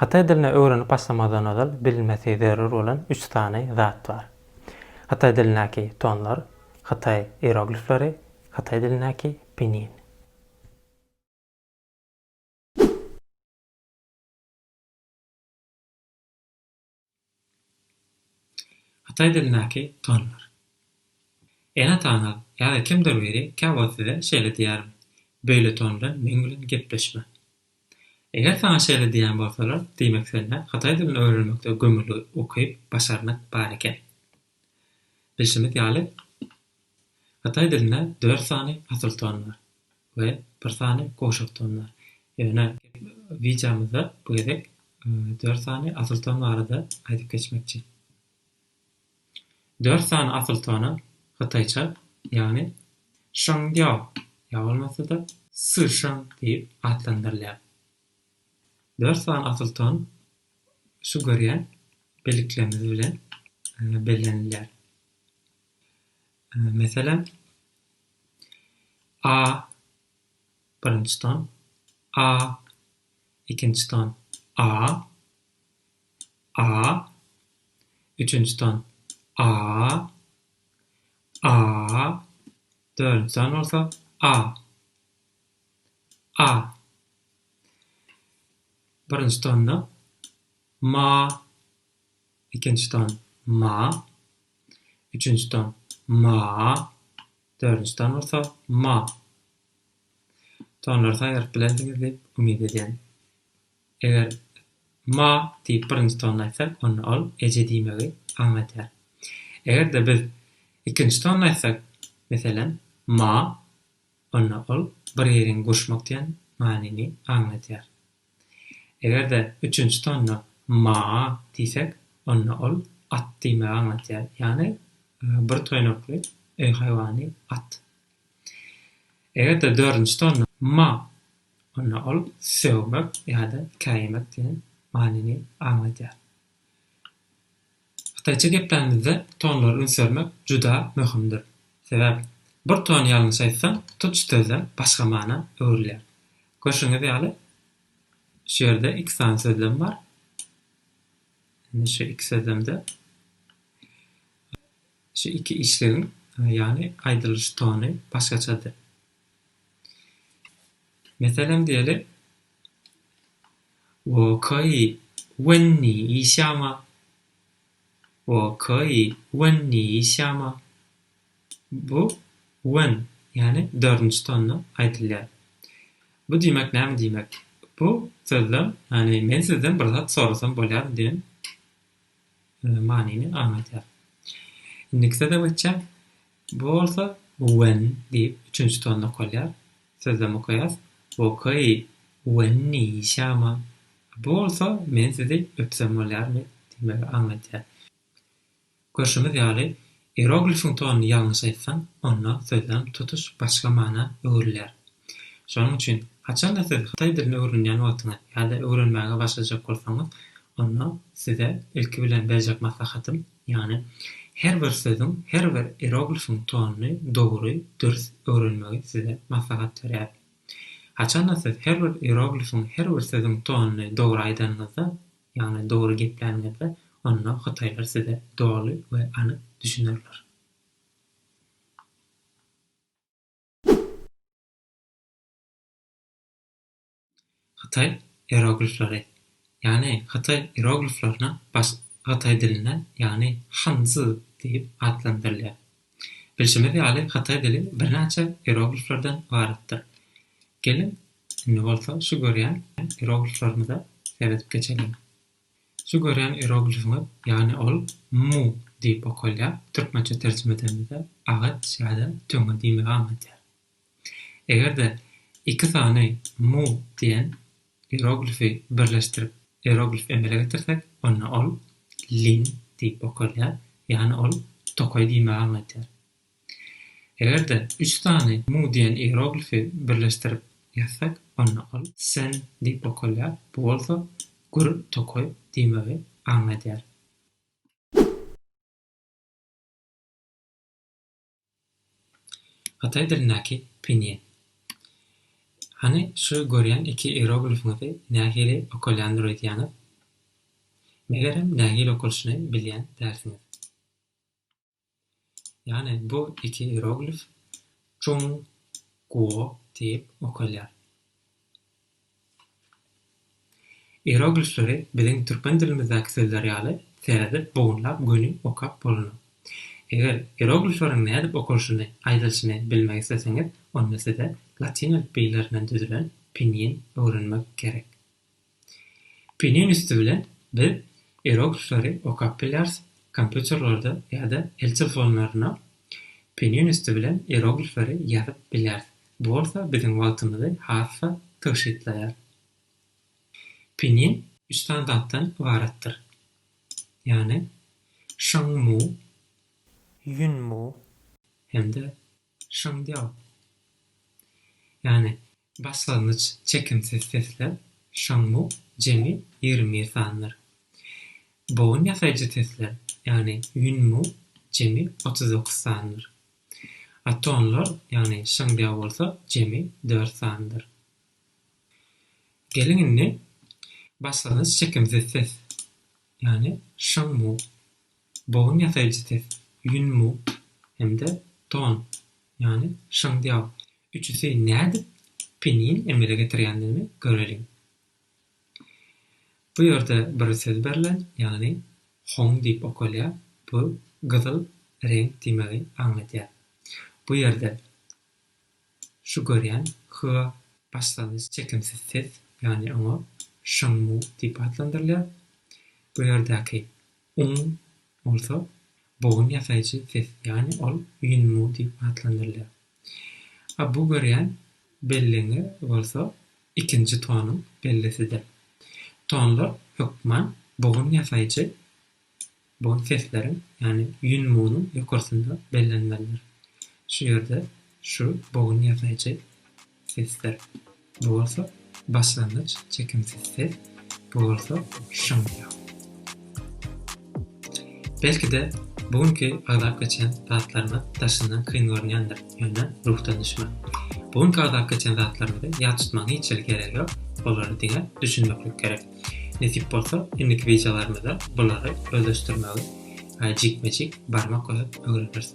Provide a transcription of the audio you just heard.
Hytaý dilini öwrenip başlamazdan ozal bilinmesi zerur bolan üç sany zat bar. Hytaý dilindäki tonlar, hytaý ieroglifleri, hytaý dilindäki pinin. Hytaý dilindäki tonlar. Ene-ataňyz ýa-da kimdir biri käwagt size şeýle diýermi, Beýle ton bilen meň bilen gepleşme. Eger saňa şeýle diýen bolsalar, diýmek sende hytaý dilini öwrenmekde gömüli ukyp, başarnyk bar eken. Bilşimiz ýaly, hytaý dilinde dört sany asyl ton bar. we bir sany gowşak ton bar. Ýöne wideomyzda bu gezek dört sany asyl ton barada aýdyp geçmekçi. Dört sany asyl tona hytaýça, ýagny Shengdiao ýa bolmasa-da Sisheng diýip atlandyrylýar. Dört sany asyl ton şu görýän birliklerimiz bilen bellenilýär. Meselem, A birinji ton, A ikinji ton, A, A üçünji ton, A, A dördünji ton bolsa, A, A birinji tonda, Ma, ikinji ton ma, üçünji ton ma, dördünji ton bolsa ma. Tonlary saýgaryp bilersiňiz diýip umyt edýän. Eger ma diýip birinji tony aýtsak, onda ol eje diýmegi aňladýar. Eger-de biz ikinji tony aýtsak, meselem, ma, onda ol bir ýeriň gurşmak diýen manyny aňladýar. Eger-de üçünji tonna maa diýsek, onda ol at diýmegi aňladýar, ýagny bir toýnakly öý haýwany at. Eger-de dördünji tonna ma, onda ol sögmek ýa-da käýemek diýen manyny aňladýar. Hytaýça geplämizde tonlary üns bermek juda möhümdir. Sebäp, bir tony ýalňyş aýtsaň, tutuş sözem başga mana öwrülýär. Görşüňiz ýaly, şu ýerde iki sany sözlem bar. Indi şu iki sözlemde şu iki işlegiň, ýagny aýdylyş tony başgaçadyr. Meselem diýeli, Okay, Wenni işýama? Okay, Wenni işýama? Bu When, ýagny dördünji tonda aýdylýar. Bu diýmek näme diýmek? Bu sözde, ýagny men sizden bir zat sorasam bolýarmy diýen manyny aňladýar. Indiki söze geçjek. Bu bolsa wen diýip üçünji tonda okalýar. Sözlem okaýas, Wokei wen ni şama. Bu bolsa men sizi öpsem bolýarmy? diýmegi aňladýar. Görşümiz ýaly, ieroglifiň tonyny ýalňyş aýtsaň, onda sözlem tutuş başga mana öwrülýär. Şonuň üçin, haçan-da siz hytaý dilini öwrenýän wagtyňyz ýa-da öwrenmäge başlajak bolsaňyz, onda size ilki bilen berjek maslahatym, Ýagny, her bir sözüň, her bir ieroglifiň tonyny dogry, dürs öwrenmegi size maslahat berýär. Haçanda siz her bir ieroglifiň, her bir sözüň tonyny dogry aýdanyňyzda, ýagny dogry gepläniňizde, onda hytaýlar size doly we anyk düşünerler. Hytaý ieroglifleri, ýagny hytaý ierogliflerine baş hytaý dilinden, ýagny han-zi diýip atlandyrylýar. Bilşimiz ýaly hytaý dili birnäçe ierogliflerden ybaratdyr. Geliň, indi bolsa şu görýän ierogliflerimize seredip geçeliň. Şu görýän ieroglifiňiz, ýagny ol mu diýip okalýar, türkmençe terjime edeniňizde agaç ýa-da töňňe diýmegi aňladýar. Eger-de iki sany mu diýen ieroglifi birleşdirip ieroglif emele getirsek, onda ol lin diýip okalýar, ýagny ol tokaý diýmegi aňladýar. Eger-de üç sany mu diýen ieroglifi birleşdirip ýazsak, onda ol sen diýip okalýar, bu bolsa gür tokaý diýmegi aňladýar. Hytaý dilindäki pinýin. Hany şu görýän iki ieroglifiňizi nähili okalýandyr öýdýäňiz? Megerem nähili okalyşyny bilýän dälsiňiz. Ýagny bu iki ieroglif Çun Guo diýip okalýar. Ieroglifleri biziň türkmen dilimizdäki sözler ýaly seredip, bogunlap göni okap bolunok. Eger ieroglifleriň nädip okalyşyny, aýdylyşyny bilmek isleseňiz, onda size latyn elipbiýlerinden düzülen pinyin öwrenmek gerek. Pinyin üsti bilen biz ieroglifleri okap bilýäris, kompýuterlerde ýa-da el telefonlarynda pinyin üsti bilen ieroglifleri ýazyp bilýäris. Bu bolsa biziň wagtymyzy has-da tygşytlaýar. Pinin üç sany zatdan ybaratdyr. Ýagny Şangmu, Ýunmu. Hem-de Şangdiao. Ýagny başlangyç çekimsiz sesler, Şangmu, jemi ýigrimi bir sandyr. Bogyn ýasaýjy sesler, ýagny Ýunmu, jemi otuz dokuz sandyr. Atonlar, ýagny şyňdýag bolsa jemi dört sandyr. Geliň indi başlangyç çekimsiz ses, ýagny şyň mu, bogun ýasaýjy ses, ýün mu hem-de ton, ýagny şyňdýag üçüsi nädip penin emele getirýändigini göreliň. Bu ýerde bir söz berlen, ýagny Hong diýip okalýar, bu gyzyl reňk diýmegi aňladýar. Bu ýerde şu görýän Hywa başlangyç çekimsiz ses, ýagny oňa Sheng Mu diýip atlandyrylýar. Bu ýerdäki Ung bolsa bogun ýasaýjy ses, ýagny ol Ýun Mu diýip atlandyrylýar. A bu görýän belliňiz bolsa ikinji tonuň bellisidir. Tonlar hökman bogun ýasaýjy bolan sesleriň, ýagny ýün munuň ýokarsynda bellenmelidir. Şu ýerde şu bogun ýasaýjy sesdir. Bu bolsa başlangyç çekimsiz ses, bu bolsa şum ýaly. Belki-de, bu günki agzap geçen zatlarymyz daşyndan kyn görünýändir, ýöne ruhdan düşmän. Bu günki agzap geçen zatlarymyzy ýat tutmagyň hiç hili geregi ýok, olary diňe düşünmeklik gerek. Nesip bolsa, indiki wideolarymyzda bulary özleşdirmegi jikme-jik barmak goýup öwreneris.